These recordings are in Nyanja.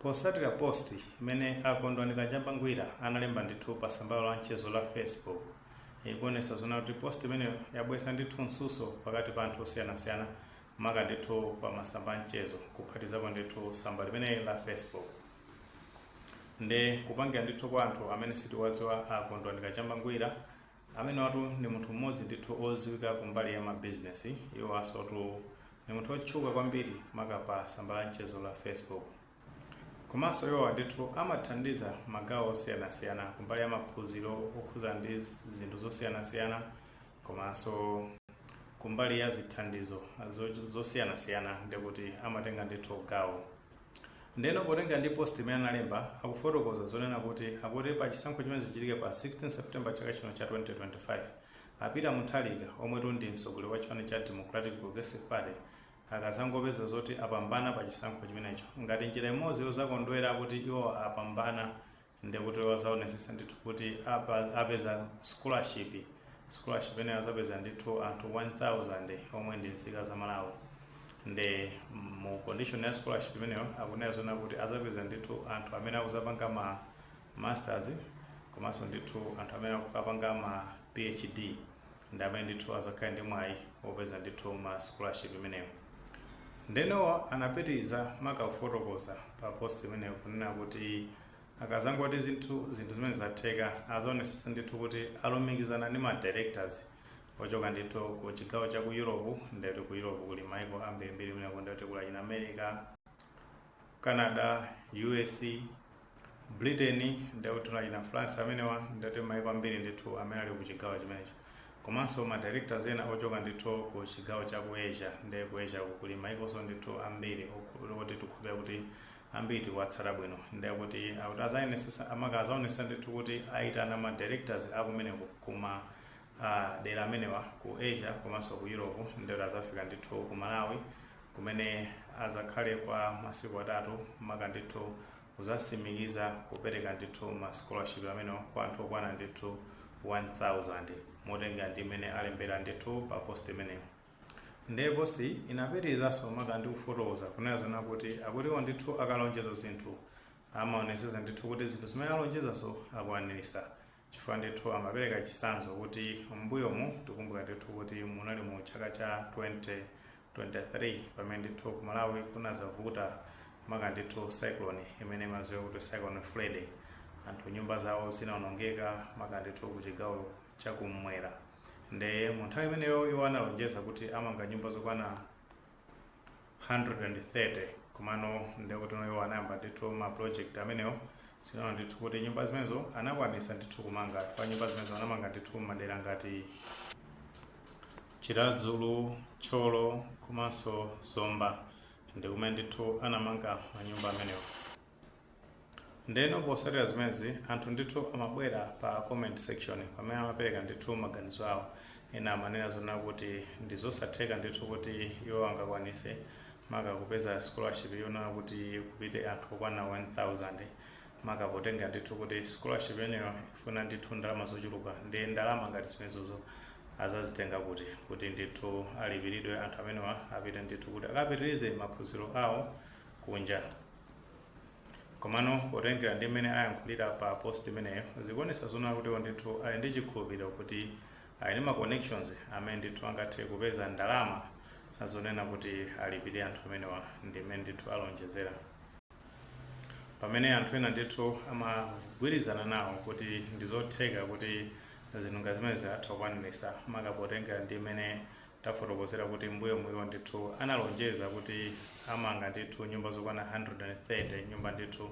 Potsatira post imene a Kondwani Kajamba Ngwira analemba ndithu pa sambalo la mchezo la Facebook ikuonesa zona kuti post imeneyo yabwesa ndithu msuso pakati pa anthu osiyanasiyana maka ndithu pa masamba a mchezo kuphatizapo ndithu samba limene la Facebook nde kupangira ndithu kwa anthu amene sitiwaziwa a Kondwani Kajamba Ngwira Amenewatu ndi munthu mmodzi ndithu oziwika kumbali ya mabizinesi, iwo asotu ndi munthu otchuka kwambiri maka pa samba la mchezo la Facebook. Komanso iwowa ndithu amathandiza magawo osiyanasiyana kumbali ya maphunziro okhuza ndi zinthu zosiyanasiyana komanso kumbali ya zithandizo zosiyanasiyana ndekuti amatenga ndithu gawo. Ndiyeno potenga ndi post imene analemba, akufotokoza zonena kuti akuti pa chisankho chimene chichitike pa 16 September chaka chino cha 2025, a Peter Mutharika, omwetu ndi mtsogoleri wa chipani cha Democratic Progressive Party, akazangopeza zoti apambana pa chisankho chimenecho ngati njira imodzi yozakondwera kuti iwowa apambana ndekuti wazaonesesa ndithu kuti apeza scholarship scholarship imeneyo azapeza ndithu anthu 1000 omwe ndi nzika za malawi nde mu condition ya scholarship imeneyo akunena zona kuti azapeza ndithu anthu amene akuzapanga ma masters komanso ndithu anthu amene akupanga ma phd ndi amene ndithu azakhale ndi mwayi opeza ndithu ma scholarship imeneyo. Nde iwowa anapitiliza maka kufotokoza pa post imeneyo kunena kuti akazangoti zinthu zinthu zimene zatheka azaonesesa ndithu kuti alumikizana ndi ma directors ochoka ndithu ku chigawo cha ku Europe ndekuti ku Europe kuli maiko ambirimbiri kumeneko ndekuti kuli achina America, Canada, U.S, Britain, ndiye kuti tina achina France amenewa ndiye kuti maiko ambiri ndithu amene ali ku chigawo chimenecho komanso ma directors ena ochoka ndithu ku chigawo cha ku Asia ndiye ku Asia ku kuli maikonso ndithu ambiri oku- oti tikhulupirira kuti ambiri tikuwatsata bwino ndiye kuti akuti azaonesesa amaka azaonesesa ndithu kuti aitana ma directors akumeneko kuma ah, dera amenewa ku Asia komanso ku Europe ndiye kuti azafika ndithu ku Malawi kumene azakhale kwa masiku atatu maka ndithu kuzasimikiza kupereka ndithu ma scholarship amenewa kwa anthu okwana ndithu 1000 motengera ndi mmene alembera ndithu pa post imeneyo. Ndiye post-yi inapitilizaso maka ndi kufotokoza kunena zonena kuti akuti iwo ndithu akalonjeza zinthu amaonesesa ndithu kuti zinthu zimene alonjezazo akwanilisa chifukwa ndithu amapereka chitsanzo kuti m'mbuyomu tikumbuka ndithu kuti munali mu chaka cha 2023 pamene ndithu ku malawi kunazavuta maka ndithu cyclone imene imaziwika kuti cyclone freddy anthu nyumba zawo zinaonongeka maka ndithu ku chigawo chakum'mwera nde mu nthawi imeneyo iwo analonjeza kuti amanga nyumba zokwana 130 komano ndekuti iwo anayamba ndithu ma project amenewo tinaona ndithu kuti nyumba zimenezo anakwanisa ndithu kumanga chifukwa nyumba zimenezo anamanga ndithu mmadera ngati chiradzulu thyolo komanso zomba ndikumene ndithu anamanga manyumba amenewo Ndeno posatira zimenezi anthu ndithu amabwera pa comment section pamene amapereka ndithu maganizo awo ena amanena zonena kuti ndizosatheka ndithu kuti iwo angakwanise maka kupeza scholarship yonena kuti kupite anthu okwana 1000 maka potengera ndithu kuti scholarship yeneyo ifuna ndithu ndalama zochuluka ndi ndalama ngati zimenezozo azazitenga kuti kuti ndithu alipiridwe anthu amenewa apite ndithu kuti akapitirize maphunziro awo kunja Komano potengera ndi mmene ayankhulira pa post imeneyo, zikuonetsa zonena kuti iwo ndithu ali ndi chikhulupiliro kuti ali ndi ma connections amene ndithu angathe kupeza ndalama zonena kuti alipire anthu amenewa ndi mmene ndithu alonjezera. Pamene anthu ena ndithu amagwirizana nawo kuti ndizotheka kuti zinthu ngati zimenezi atha kukwanilitsa maka potengera ndi mmene Tafotokozera kuti mbuyo muja iwo ndithu analonjeza kuti amanga ndithu nyumba zokwana 130 nyumba ndithu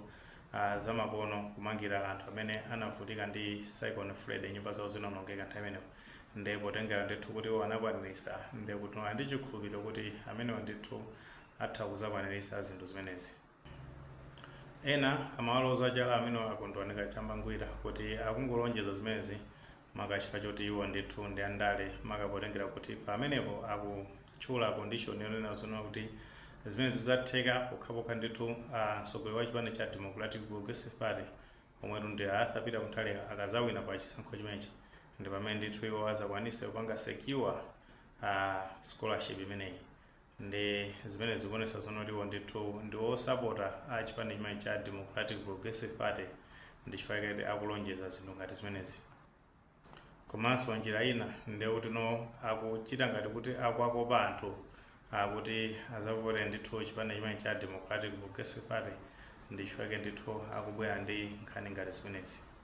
a zamakono kumangira anthu amene anavutika ndi cyclone Freddy nyumba zawo zinaonongeka nthawi imeneyo nde potengera ndithu kuti iwo anakwanilisa nde kuti ali ndi chikhulupiliro kuti amenewa ndithu atha kuzakwanilisa zinthu zimenezi. Ena amawaloza chala amenewa a Kondwani Kachamba Ngwira kuti akungolonjeza zimenezi maka chifukwa choti iwo ndithu ndi andale, maka potengera kuti pamenepo akutchula condition yonena zonena kuti zimenezi zidzatheka pokhapokha ndithu a mtsogoleri wa chipani cha Democratic Progressive Party omwetu ndi a Arthur Peter Mutharika akadzawina pa chisankho chimenechi ndi pamene ndithu iwo adzakwanitse kupanga secure a scholarship imeneyi. Ndi zimene zikuonesa zonena kuti iwo ndithu ndi osapota chipani chimenechi cha Democratic Progressive Party ndi chifukwa chake akulonjeza zinthu ngati zimenezi. Komanso njira ina nde kuti akuchita ngati kuti akuwakopa anthu a kuti azavotere ndithu chipani chimenechi cha Democratic Progressive Party ndi chifukwa chake ndithu akubwera ndi nkhani ngati zimenezi.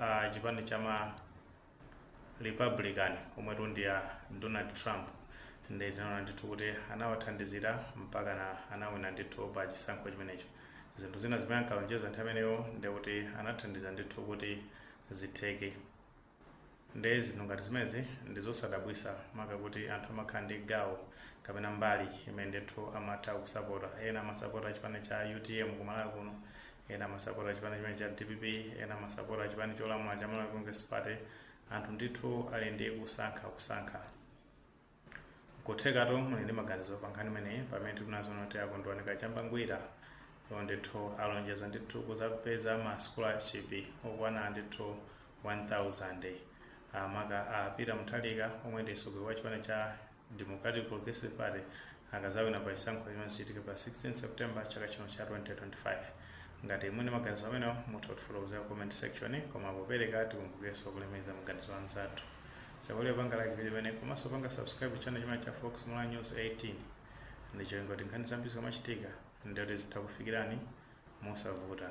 a chipani cha ma Republican omwetu ndi a Donald Trump nde tinaona ndithu kuti anawathandizira mpakana anawina ndithu pa chisankho chimenecho. Zinthu zina zimene ankalonjeza nthawi imeneyo nde kuti anathandiza ndithu kuti zitheke. Nde zinthu ngati zimenezi ndi zosadabwitsa maka kuti anthu amakhala ndi gawo kapena mbali imene ndithu amatha kusapota. Ena amasapota chipani cha utm ku Malawi kuno, ena amasapota chipani chimene cha dpp ena amasapota chipani cholamula cha malawi congress party anthu ndithu ali ndi kusankha kusankha kuthekatu muli ndi maganizo pa nkhani imeneyi pamene tikunena zoona kuti akondwani kachamba ngwira iwo ndithu alonjeza ndithu kuzapeza ma scholarship okwana ndithu 1000 makamaka a peter mutharika omwe ndi mtsogoleri wa chipani cha Democratic Progressive Party akazawina pa chisankho chimene chichitike pa 16 September chaka chino cha 2025. Ngati muli ndi maganizo amenewo, mutha kutifotokozera ku comment section. Koma popereka, tikumbukirenso kulemekeza maganizo a anzathu. Musaiwale kupanga like video imeneyi komanso kupanga subscribe ku channel chimenechi cha Fox Malawi News 18 ndi cholinga kuti nkhani zambiri zikamachitika ndiye kuti zitha kukufikirani mosavuta.